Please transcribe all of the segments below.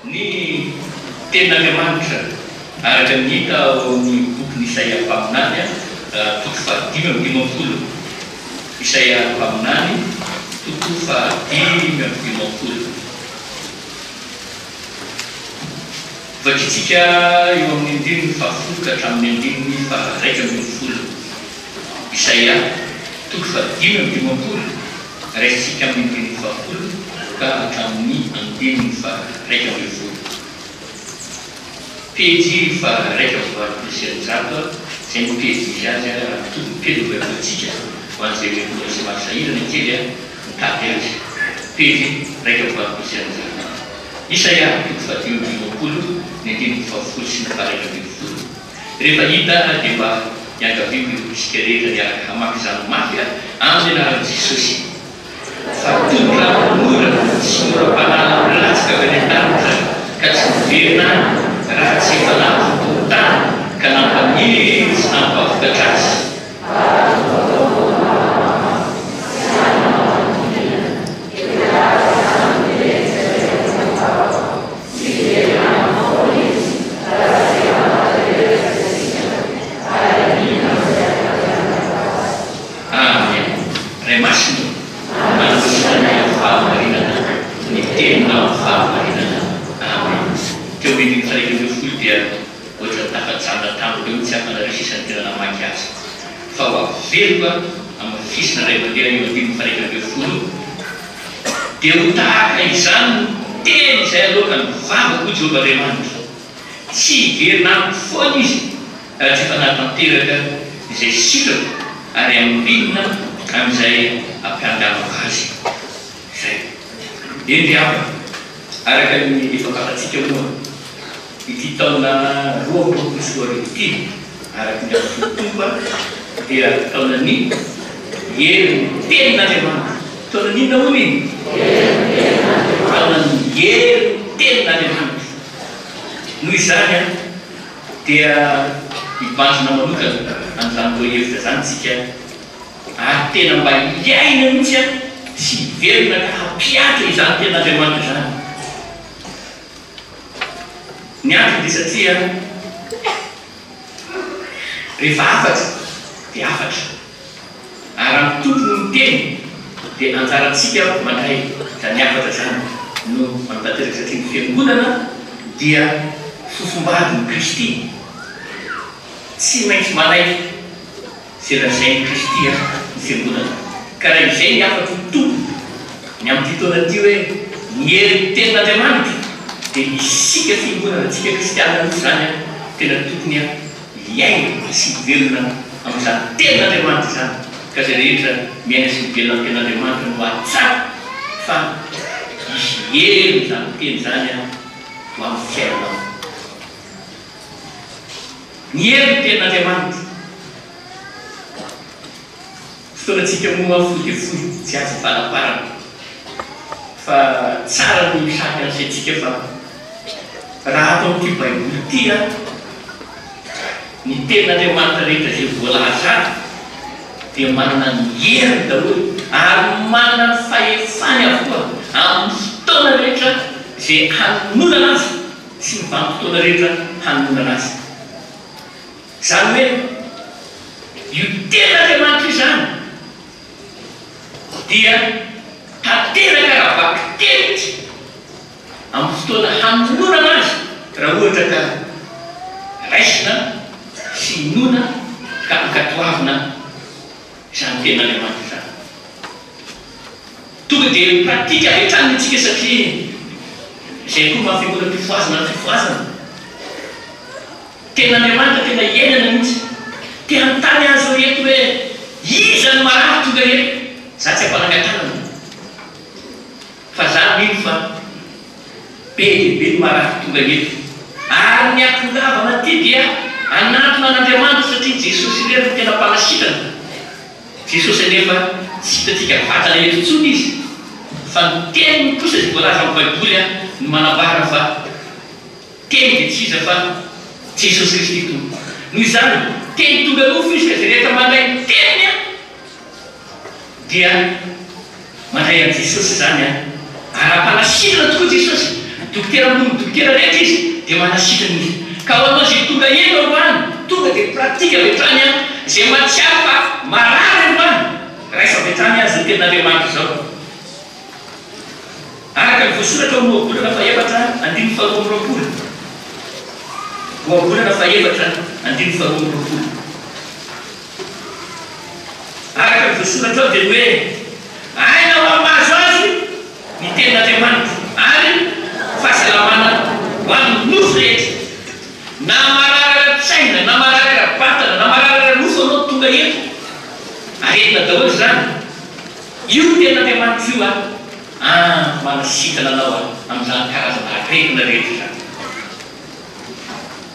Ny Tenin'Andriamanitra, araka ny hita ao amin'ny bokin'i Isaia mpaminany, toko fahadimy amby dimampolo. Isaia mpaminany, toko fahadimy amby dimampolo. Vakintsika eo amin'ny andininy fahafolo ka hatramin'ny andininy faharaika ambin'ny folo. Isaia, toko fahadimy amby dimampolo. Raisintsika amin'ny teny fahafolony ka hatramin'ny andininy faharaika ambin'ny folo. Pejy faharaika amby valopolo sy eninjato izay no pejy misy azy raha mitovy ny pejy novakiantsika ho an'izay mety mbola tsy mahasahirana kely mitady azy. Pejy raika amby valopolo sy eninjato. Isaia toko faha dimy amby roapolo ny andininy fahafolo sy ny faharaika ambin'ny folo. Rehefa hita ary dia mba iangaviako ireo mpisika rehetra hiaraka hamaky izany mafy aho amin'ny anaran'i Jesosy fa tony raha mora sy mora banana milatsaka avy any an-danitra ka tsy miverina any raha tsy efa lavo tony tany ka nampanery sy nampavokatra azy. Tsy very aminy foana izy raha tsy hanatanteraka izay sitrana ary hanina amin'izay hanatanterahana azy. Amen! Ray Masina ô! Manolotra anay amin'ny fahamarinana ny Teninao amin'ny fahamarinana. Amen! Teo amin'ny dimy tarehy ireo folo dia ohatrany tafajanona tamiko eo tsy afa-nareo sisa ny tena namaky azy. Fa ho averiko amin'ny fisina iray mandeha eo amin'ny dimy faika ambin'ny folo eo. Dia ho tahaka izany no teny izay aloaka ny vavako, hoy Jehovah Andriamanitra. Tsy hiverina amiko foana izy raha tsy efa nahatanteraka izay sitrako ary hamorina an'izay ampianganako azy izay. Eny ry havana, araka ny efa fantatsika moa, Ity taona roa amby roapolo sy roa arivo ity, araka ny azo fitompoana, dia taonan'ny herin'ny Tenin'Andriamanitra. Taonan'inona hono iny? Taonan'ny herin'ny Tenin'Andriamanitra. Noho izany dia mibanjina manokana an'izany lohahevitra izany isika ary tena mba hiaina mihitsy sy hiverina ka hampiantra izany Tenin'Andriamanitra izany. Ny antony dia satria rehefa hafatra dia hafatra ary raha ny Tompo no miteny dia anjarantsika mandray izany hafatra izany no manao tanteraka satria ny Fiangonana dia fofombadin'i Kristy tsy maintsy manaiky izay lazain'i Kristy hafa ny Fiangonana, ka raha izay ny hafatro ny Tompo ny amin'ity taona ity hoe ny herin'ny Tenin'Andriamanitra, dia isika Fiangonana, isika Kristiana mihitsy izany an, tena tokony an hiaina sy hivelona amin'izany Tenin'Andriamanitra izany, ka izay rehetra miaina sy mivelona amin'ny Tenin'Andriamanitra no hahatsapa fa hisy herin' izany Teny izany an ho amin'ny fiainanao. Ny hery ny tenin'Andriamanitra. Fotoanantsika moa fohifohy tsy azo hivalaparana fa tsara ny misahaka ny saintsika fa raha ato amin'ity baiboly ity ny tenin'Andriamanitra rehetra izay voalaza ato dia manana ny heriny daholo ary manana ny fahefany avokoa amin'ny fotoana rehetra izay hanononana azy. sy ny vanim-potoana rehetra hanondrana azy. Izany hoe io tenan'Andriamanitra io izany dia tanteraka raha bakiteritry amin'ny fotoana hanononana azy raha ohatra ka raisina sy inoana ka ankatoavina. Izany tena ilay maty izany. Tonga dia mi pratique avy hatrany isika satria izay koa maha fiangonam-pifohazana ny fifohazana. Tena Andriamanitra tena iainana mihitsy. Te hanontany azy ireo ireto hoe iza no marary tonga eto? Za tsy am-panangan-tanana. Fa za mino fa be dia be ny marary tonga eto, ary ny akongavana ty dia anatona an'Andriamanitra satria Jesosy irery no tena mpanasitrana. Jesosy anefa tsy hitantsika vatana eto intsony izy, fa ny teniny kosa izay voalaza amin'ny baiboly no manambara fa teny dia tsy iza fa Jesosy Kristy Tompo. Noho izany, teny tonga nofo izy ka izay rehetra mandray ny teniny Dia mandray an'i Jesosy izany an! Ara-panasitrana tokoa Jesosy, Dokotera ambony ny dokotera rehetra Izy, dia manasitrana Izy. Ka ho anao izay tonga eny androany, tonga dia pratique avy hatrany an! Izay mahatsiaro fa marary androany, raiso avy hatrany an! Izao teny Andriamanitra izao. Araka ny voasoratra ao Ohabolana fahefatra andininy faharoa amby roapolo. Ohabolana fahefatra andininy faharoa amby roapolo. Araka ny voasoratra ao dia hoe, Aina ho amin'ny mahazo azy ny tenin'Andriamanitra, ary fahasalamana ho an'ny nofo rehetra. Na marary ara-tsaina, na marary ara-batana, na marary ara-nofo ianao tonga eto, aretina daholo izany. Io ny tenin'Andriamanitra io an! An! Manasitana anao aho amin'izany karazana aretina rehetra izany.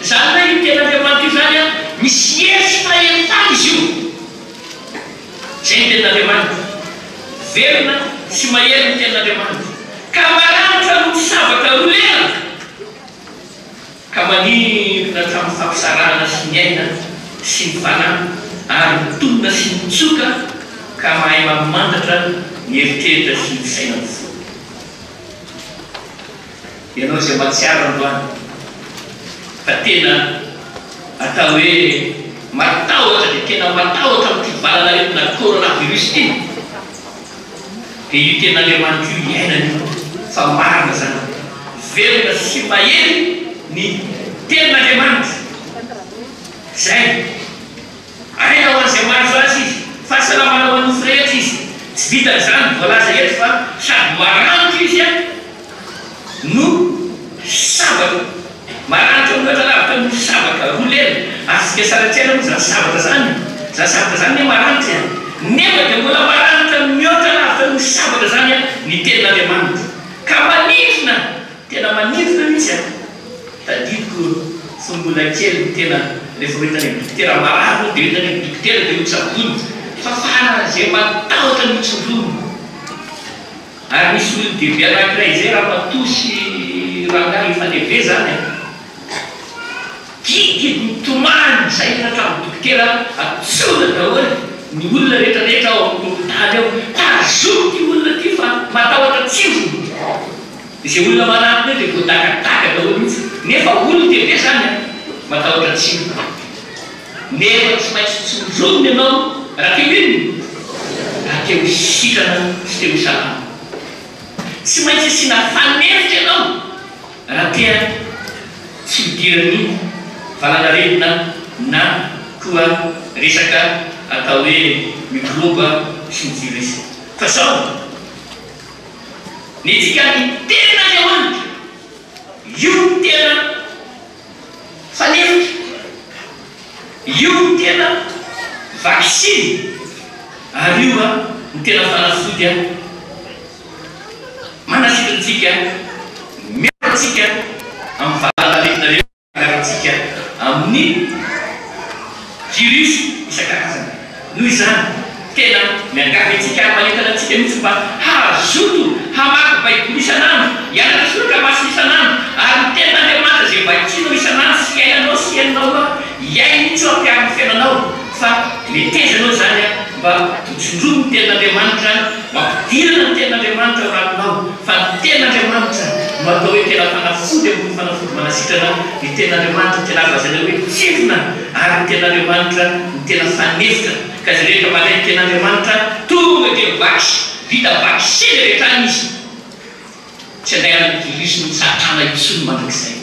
Izany hoe io Tenin'Andriamanitra io izany an, misy hery sy fahefana izy io. Izay ny Tenin'Andriamanitra. Velona sy mahery ny Tenin'Andriamanitra, ka maranitra noho ny sabatra roa lela, ka manintona hatramin'ny fampisarahana sy ny aina sy ny fanahy, ary mitonona sy mitsoka, ka mahay mamantatra ny eritreritra sy ny saina amin'ny fo. Ianao izay mahatsiaro androany fa tena atao hoe matahotra dia tena matahotra amin'ity valan'aretina coronavirus ity dia io Tenin'Andriamanitra io iainana io fa marina izany velona sy mahery ny Tenin'Andriamanitra. Izay. Aina ho an'izay mahazo azy izy. Fahasalamana ho an'ny nofo rehetra izy. Tsy vitan'izany ny voalaza eto fa sady maranitra izy no sabaka. Maranitra mihoatra lavitra ny nofo sabaka. Roa lela. Azontsika sary an-tsaina moa izany sabaka izany. Izany sabaka izany anie maranitra e. Nefa dia mbola maranitra mihoatra lavitra ny nofo sabaka izany ny tenin'Andriamanitra. Ka maninona? Tena manintona mihitsy an! Tadidiko fony mbola kely ny tena rehefa ho hitanay dokotera marary hono dia ho hitanay ny dokotera dia ho tsaboina fa faran'izay matahotra ny hotsindromina ary misy olon-dehibe anankiray izay ramatoa sy rangahy hifaneve izany an! Dididy mitomany izay ny hatramin'ny dokotera antsoina daholo ny olona rehetra rehetra ao amin'ny hopitaly ao ka azoko ity olona ity fa matahotra tsindrona! Izay olona marary be dia voadagadaga daholo mihitsy nefa olon-dehibe zany an! Matahotra tsindry nefa tsy maintsy tsindronina ianao raha te ho inona? Raha te ho sitrana sy te ho salama. Tsy maintsy asiana fanenitra ianao raha te an! Tsy hidiran'ny valanaretina na koa resaka atao hoe mikrôba sy ny virus fa zao! Ny dikan'ny tenin'Andriamanitra, io no tena fanefitra, io no tena vaksiny ary io no tena fanafody manafitra antsika, miaro antsika amin'ny valanaretina rehetra. Andramantsika amin'ny virus isan-karazany. Noho izany, tena miangavy antsika ary manentana antsika mihitsy mba hazoto hamaky Baiboly isan'andro, hianatra soratra masina isan'andro, ary ny Tenin'Andriamanitra izay vakinao isan'andro sy iainanao sy henonao hoa hiaino mihitsy hoa mpiaro ny fiainanao. Fa metezana ao izany mba ho tsindromin'ny Tenin'Andriamanitra. Mampidirana ny Tenin'Andriamanitra ao anatinao, fa ny Tenin'Andriamanitra no atao hoe tena fanafody ambony fanafody manasitrana, ny Tenin'Andriamanitra no tena azo lazaina hoe tsirona, ary ny Tenin'Andriamanitra no tena fanefitra, ka izay rehetra mandray ny Tenin'Andriamanitra tonga dia vax, vita vaccin avy hatrany izy, tsy angaran'ny virus-n'i Satana intsony mandrakizay.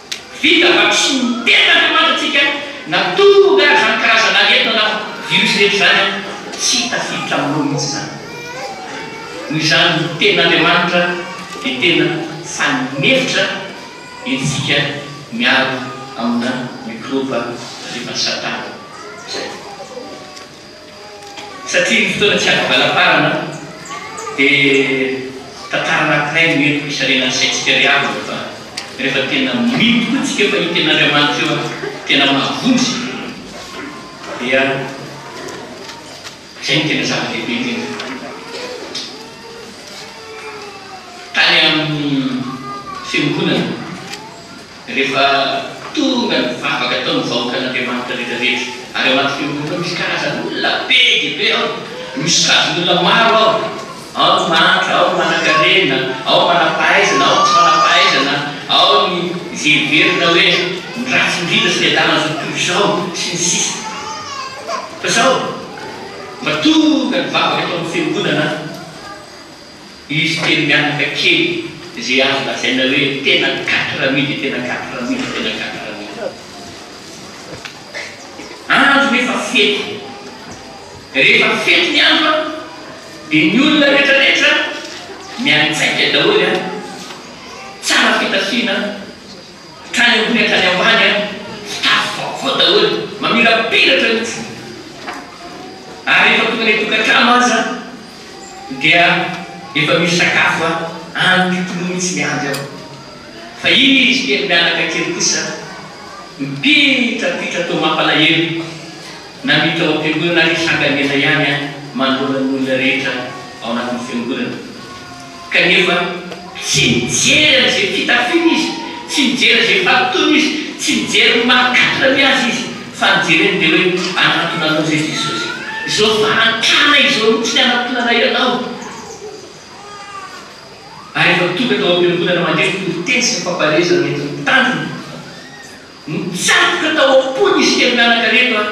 Vita vaksiny mitety avy ao Madasika na tonga ary izany karazana aretina na virus rehetra izany an, tsy tafiditra aminao mihitsy izany. Noho izany ny tenin'Andriamanitra dia tena fanefitra entintsika miaro amina mikrôba avy evan'i Satana izay. Satria ny fotoana tsy azo avela-parana dia tantara anankiray no entiko hisalenan'ny saintsika ry havana fa rehefa tena mino tokoa tsika fa hita en'Andriamanitra eo ary tena mahavonjy dia izay no tena zava-dehibe indrindra. Tany amin'ny fiongonana. Rehefa tonga ny vavaka ataon'ny vahoakan'Andriamanitra rehetrarehetra, ary ao anatin'io io io misy karazan'olona be dia be ao, misy kazin'olona maro ao, ao ny mahantra, ao ny manankarena, ao ny manampahaizana, ao ny tsy manampahaizana, ao ny izay heverina hoe ny ratsy indrindra sy ny adalan'izao tontolo izao, sy ny sisa Fa sao mba tonga ny vavaka ataon'ny fiangonana an? Izy telo mianaka kely izay azo lazaina hoe tena quatre amis dia tena quatre amis dia tena quatre amis daholo. Andro nefa fety. Rehefa fety ny andro an, dia ny olona rehetrarehetra miantsaika daholo an, tsara fitafiana an, hatrany ambony hatrany ambany an, fitafy vaovao daholo, mamirapiratra mihitsy. Ary rehefa tonga any an-tokantrano aza. Dia efa misy sakafo a any pipino mitsy miandry ao fa izy kely mianaka kely kosa mipitrapitra toa mampalahelo na miditra ao ampiangonana ary sanga miela ihany a manoloana ny olona rehetra ao anatin'ny fiangonana. Kanefa, tsy nijery an'izay fitafiana izy, tsy nijery an'izay fahatoana izy, tsy nijery ny maha-katra ny azy izy, fa nijery an'ilay hoe hanatona anao izay Jesosy. Izao fahantrana izao mihitsy ny hanatonanay anao. Ary efa tonga tao am-piangonana mandre ny toriteny sy ny fampareza nentin'ny tanjona. Nitsatoka tao am-pony izy kely mianaka reto an!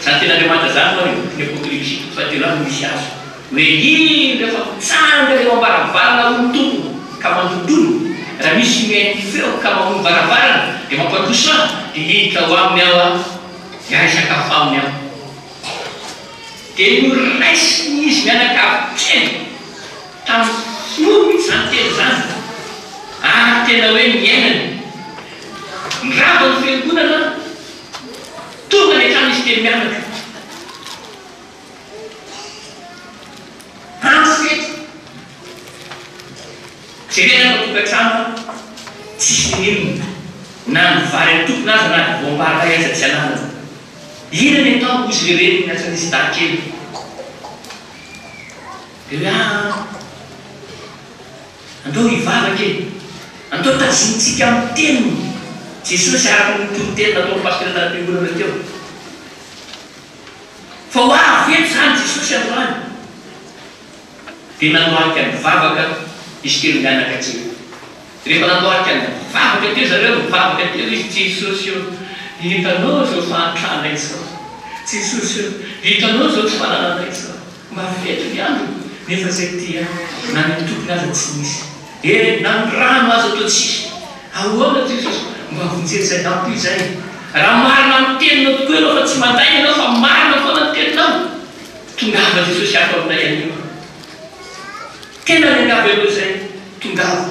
Zany tena le manja zany ho'a reo ny apocalypsy fa de là no misy azy hoe iny refa mitsanga eo ambaravarana ho'a ny tompony ka mandondona ra misy mihaino ny feo ka mamoy ny varavarana de mampandroso an de hiditra ao aminy aho an de ahay sakafo aminy an de noraisiny izy mianakavy teny tam hiomy zany teny zany ary tena hoe niainany ny rava ny fiangonana Tonga ny hatrany izy telo mianaka. Andro fety. Jerena fa tokantrano tsisy nenina. Na ny vary atokona aza na ny voam-barakay aza tsy ananany. Inona ny atao hozy ilay reniny niantsoan'izy dahy kely. Laa. Andao hivavaka e! Andao tazonintsika amin'ny Teniny Jesosy araka ny toriteny nataon'ny Pasitera tamin'ny fiangonana teo. Fa ho avy eto izany Jesosy androany. Dia nandohalika nivavaka izy telo mianaka teo. Rehefa nandohalika nivavaka teo zareo, nivavaka teo izy, Jesosy o, hitanao izao fahantrana izao, Jesosy o, hitanao izao tsy fananana izao. Mba feno ny andro nefa izay dia na ny tompony aza tsy nisy e! Na ny rano aza toa tsisy! Ahoana Jesosy? Mba vonjeo izay nampo izay! Raha marina amin'ny teninao tokoa ianao fa tsy mandainga ianao fa marina foana ny teninao, tongava Jesosy ato aminay anio a! Tena miangavy anao izay, tongava!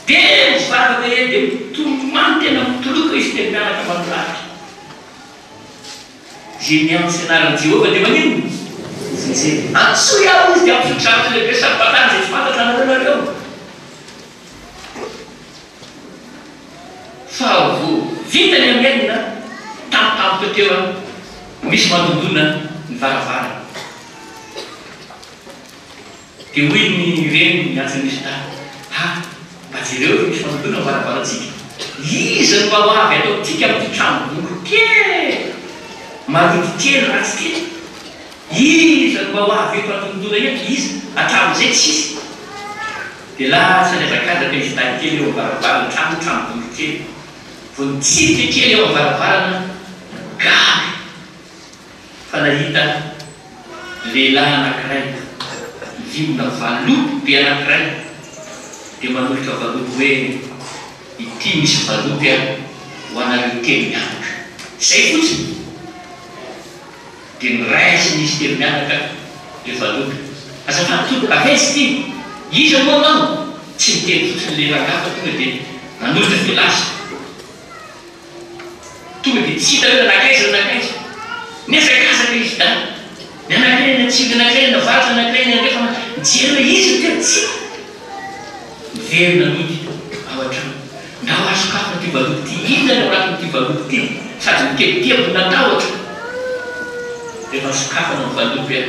Dia mivavaka e! Dia mitomany tena mitoloko izy dia miaraka manolafika. Izay miantso ny anaran'i Jehovah dia maninona? Ho voajery. Antsoy aho izy, dia hampitodry zavatra lehibe sady vatany izay tsy fantatra anareo ianareo. Faharoa, vita ny Amen an, tampotampoka teo an, misy mandondona ny varavarana. Dia hoy ny reniny ny antsy Rishda, Ha! mba jereo eto misy fandotoana ny varavarantsika, iza no mba ho avy ato amintsika amin'ity tranom-bongony kely marody kely ratsy ity? Iza no mba ho avy eto hatontoana eto, iza? Hatramin'izay tsy hisy. Dia lasa nihazakazaka izy lahy telo eo amin'ny varavaran'ny trano tranom-bongony kely, vao nitsidika kely eo amin'ny varavarana, gaga. fa nahita lehilahy anankiray mivimbina valopy be anankiray dia manolotra valopy hoe, Ity misy valopy aho ho anareo telo mianaka. Izay fotsiny. Dia noraisin'izy telo mianaka ilay valopy. Azafady tompoko, avesy ity. Iza moa anao? Tsy niteny fotsiny ilay rangahy fa tonga dia nanolotra dia lasa. Tonga dia tsy hita hoe nanakaiza na nankaiza. Nihazakazaka izy daholo. Ny anankiray eny atsimo, ny anankiray eny avaratra, ny anankiray eny andrefa, na nijery hoe iza no tena tsy hita. Niverina nody ao an-trano. Ndao ary sokafana ity valopy ity. Inona no ao anatin'ity valopy ity? Sady nitebiteby natahotra. Rehefa nosokafana ny valopy an!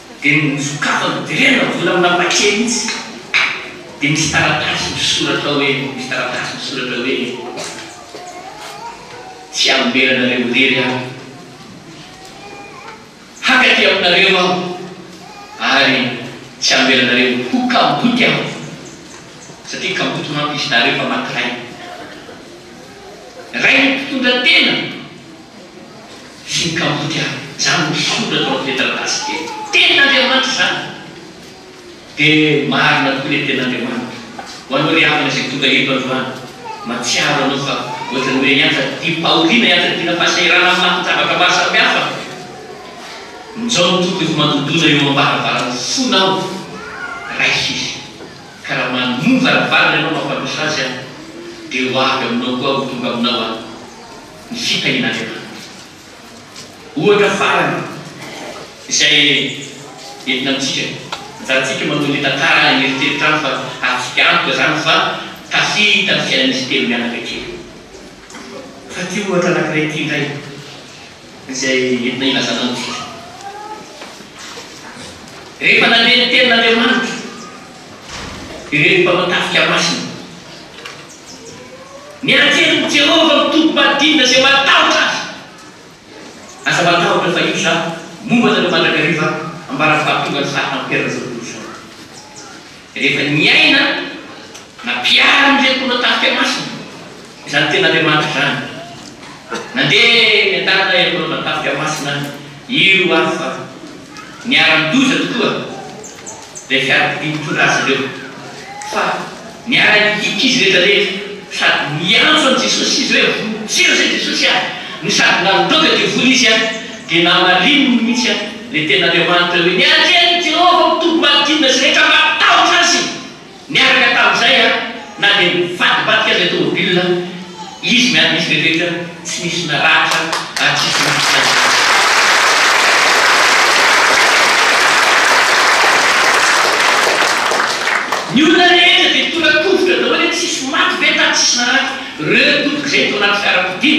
Dia nosokafany velona ny vola mba mba kely mihitsy. Dia misy taratasy misoratra hoe, misy taratasy misoratra hoe, Tsy hamelana anareo irery aho. Haka aty aminareo aho ary tsy hamela anareo ho kamboty aho. Satria kamboty manko izy nareo fa maty rainy. Rain'ny mpitondra tena. Voka-boty avy amin'izany ny soratra ao amin'ity taratasy ity hoe, Tenin'Andriamanitra izany. Dia marina tokoa ilay Tenin'Andriamanitra. Ho anao ry havana izay tonga eto androany, mahatsiaro anao fa ohatran'ny hoe ianjadiam-pahoriana, ianjadiana fahasahirana amin'ny lafin-javatra maro samihafa mijao mitoto efa mandondona eo am-baravaran'ny fony aho. Raiso Izy. Ka raha manoa ny varavarany ianao mampandroso Azy aho, dia ho avy aminao koa aho, ho tonga aminao aho. ny fitahiana aretina mafy. Ohatra farany izay entina amintsika, ajantsika manao ny tantara any eritreritra any fa azontsika antoka izany fa tafita ny fiainan'izy telo mianaka kely. Fa ity ohatra anankiray ity indray izay entina hilazana amintsika, rehefa nandeha ny tenin'Andriamanitra ireto mpanao tafika masina, Ny anjelin'i Jehovah mitoby madina izay matahotra azy. Aza matahotra fa io zah momba anareo mandrakariva ambara fahatongan'i zah hampiharina izao tontolo izao. Rehefa niaina na mpiara amin'izay mpitondra tafika masina izany tena Andriamanitra izany, nandeha niandanana ireo mpitondra tafika masina ireo aho fa. Niara-nidoza tokoa ilay fiarakodia nitondra azy ireo, fa niara-nihiaka izy rehetra rehetra, sady niantso an'i Jesosy izy hoe, Vonjeo izay Jesosy ahy! no sady nandroaka devoly izy an, dia namarininy mihitsy an, ilay tenin'Andriamanitra hoe, Ny Andrian'i Jehovah mitoby madina sy rehetra matahotra azy! Niaraka tamin'izay aho na dia nivadibadika izay tomobilina izy miady misy rehetra tsy nisy naratra raha tsy izy maty ihany koa. Ny olona rehetra dia tora-kovitra daholo hoe tsisy maty ve tato tsisy naratra reo tompoko zay tao anaty fiarakodia?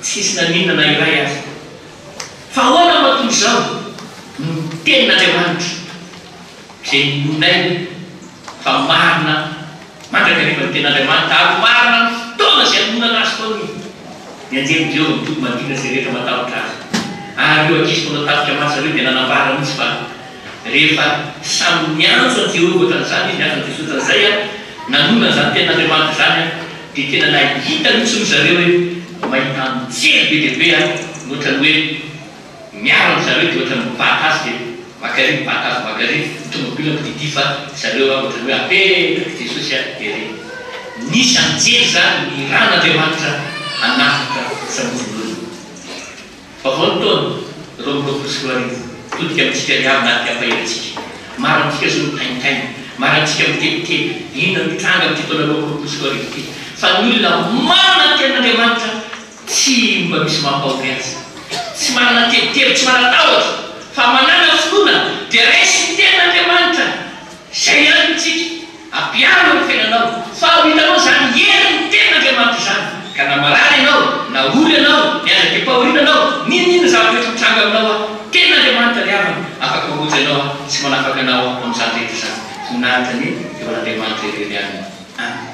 Tsy nisy naninona na iray aza. Fa ahoana moa toy izao no tenin'Andriamanitra? Izay inoanay fa marina mandrakariva ny Tenin'Andriamanitra, ary marina amin'ny fotoana izay hamoronana azy tao ny ny anjelin'i Jehovah mitody manodidina izay rehetra matahotra azy. Ary ireo ankizy mpanao tafika manja ireo dia nanambara mihitsy fa rehefa samy niantso an'i Jehovah hoatran'izany izy, niantso an'i Jesosy hoatran'izay, ary nanonona an'izany Tenin'Andriamanitra izany, dia tena nahita mihitsy ry zareo hoe mahita anjely be dia be mihoatra ny hoe Miaro an-dry zareo ity ohatran'ny mibata azy ve? Maka ery mibata azy maka ery ny tomobile mpidididy fa zareo raha ohatran'ny hoe apetraky Jesosy a ery. Nisy anjely izany nirahan' Andriamanitra hanavotra ny famoron'olona. Vaovao ny taona roa amby roapolo sy roa arivo, mitodika amintsika ry havana ary mpiampahelantsika. Maro amintsika izao no taintaina, maro amintsika mitebiteby, inona no hitranga amin'ity taona roa amby roapolo sy roa arivo ity? Fa ny olona manana ny tenin'Andriamanitra, Tsy mba misy mampahory azy. Tsy manana tebiteby, tsy manan-tahotra, fa manana finoana, dia raiso ny tenin'Andriamanitra. Izay ihany no tsiky. Ampiaro ny fiainanao, fa ho hitanao izany herin'ny tenin'Andriamanitra izany, ka na marary ianao, na ory ianao, miandraika am-pahoriana ianao, n'inon'inona zavatra rehetra mitranga aminao aho, tenin'Andriamanitra ry havana, afaka mangoja anao aho, sy manafaka anao aho amin'izany rehetra izany. Ho nahantra anie eo an'Andriamanitra irery aminy. Amena.